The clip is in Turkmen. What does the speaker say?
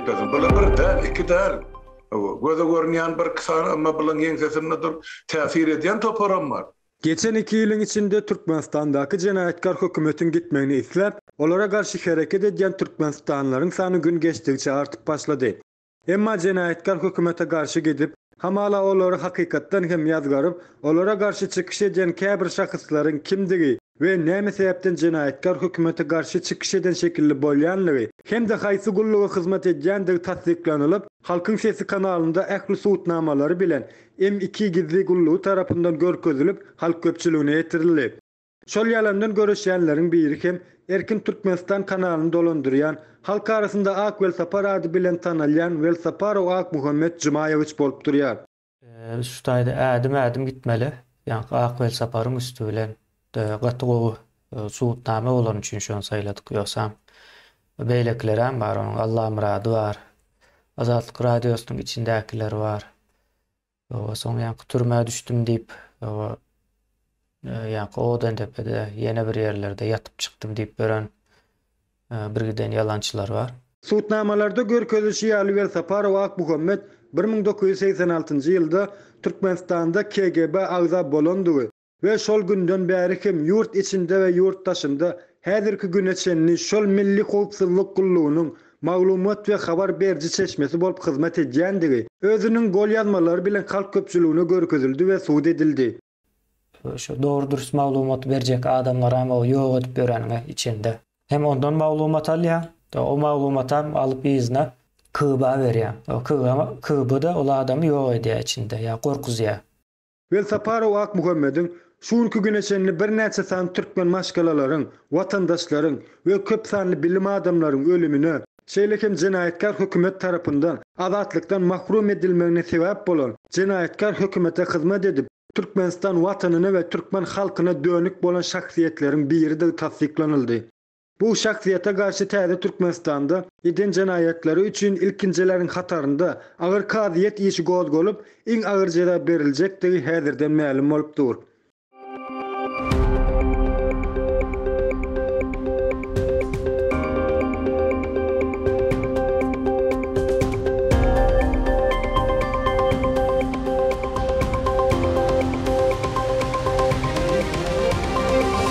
Gözüm bula bir däl, iki däl. Göze görünýän bir iki sany, emma bularyň ýeňsesinde durup täsir edýän toparam bar. Geçen iki ýylyň içinde Türkmenistandaky jenaýatkar hökümetiň gitmegini isläp, olara garşy hereket edýän türkmenistanlylaryň sany gün geçdigiçe artyp başlady. Emma jenaýatkar hökümete garşy gidip, hamala olary hakykatdan hem ýazgaryp, olara garşy çykyş edýän käbir şahyslaryň kimdigi we näme sebäpden jenaýatkar hökümete garşy çykyş eden şekilli bolýanlygy hem-de haýsy gulluga hyzmat edýändigi tassyklanylyp, Halkyň sesi kanalynda ähli subutnamalary bilen M iki gizli gullugy tarapyndan görkezilip, halk köpçüligine ýetirildi. Şol ýalandan göreşýänleriň biri hem Erkin Türkmenistan kanalyny dolandyrýan, halk arasynda Ak welsapar ady bilen tanalýan Welsaparow Akmuhammet Jumaýewiç bolup durýar. Biz şu taýda ädim-ädim gitmeli. Ýaňky Ak welsaparyň üsti bilen gaty gowy subutnama bolany üçin şony saýladyk. Ýogsam beýlekilerem bar, onuň Allamyrady bar, Azatlyk Radiosynyň içindäkileri bar. Oba soň ýaňky türmä düşdüm diýip, oba ýaňky Odendepede ýene bir ýerlerde ýatyp çykdym diýip ören birgiden ýalançylar bar. Sudnamalarda görkezilişi ýaly Welsaparow Akmuhammet bir müň dokuz ýüz segsen altynjy ýylda Türkmenistanda KGB agza bolandygy, we şol günden bäri hem ýurt içinde we ýurt daşynda häzirki güne çenli şol Milli howpsuzlyk gullugynyň maglumat we habar beriji çeşmesi bolup hyzmat edýändigi özüniň golýazmalary bilen halk köpçüligine görkezildi we subut edildi. Şu dogry-dürüst maglumaty berjek adamlaram o ýok edip ýöreniňe içende. Hem ondan maglumat alýaň, o maglumatam alyp yzyna KGB-a berýäň. O KGB-a da ol adamy ýok edýär içinde ýa gorkuzýar. Welsaparow Akmuhammediň şu günki güne çenli birnäçe sany türkmen maşgalalaryň, watandaşlaryň we köp sanly bilim adamlaryň ölümine, şeýle hem jenaýatkär hökümet tarapyndan azatlykdan mahrum edilmegine sebäp bolan jenaýatkär hökümete hyzmat edip, Türkmenistan watanyna we türkmen halkyna dönük bolan şahsyýetleriň biridigi tassyklanyldy. Bu şahsyýete garşy täze Türkmenistanda eden jenaýatlary üçin ilkinjileriň hatarynda agyr kazyýet işi gozgalyp, iň agyr jeza beriljekdigi häzirden mälim bolup dur.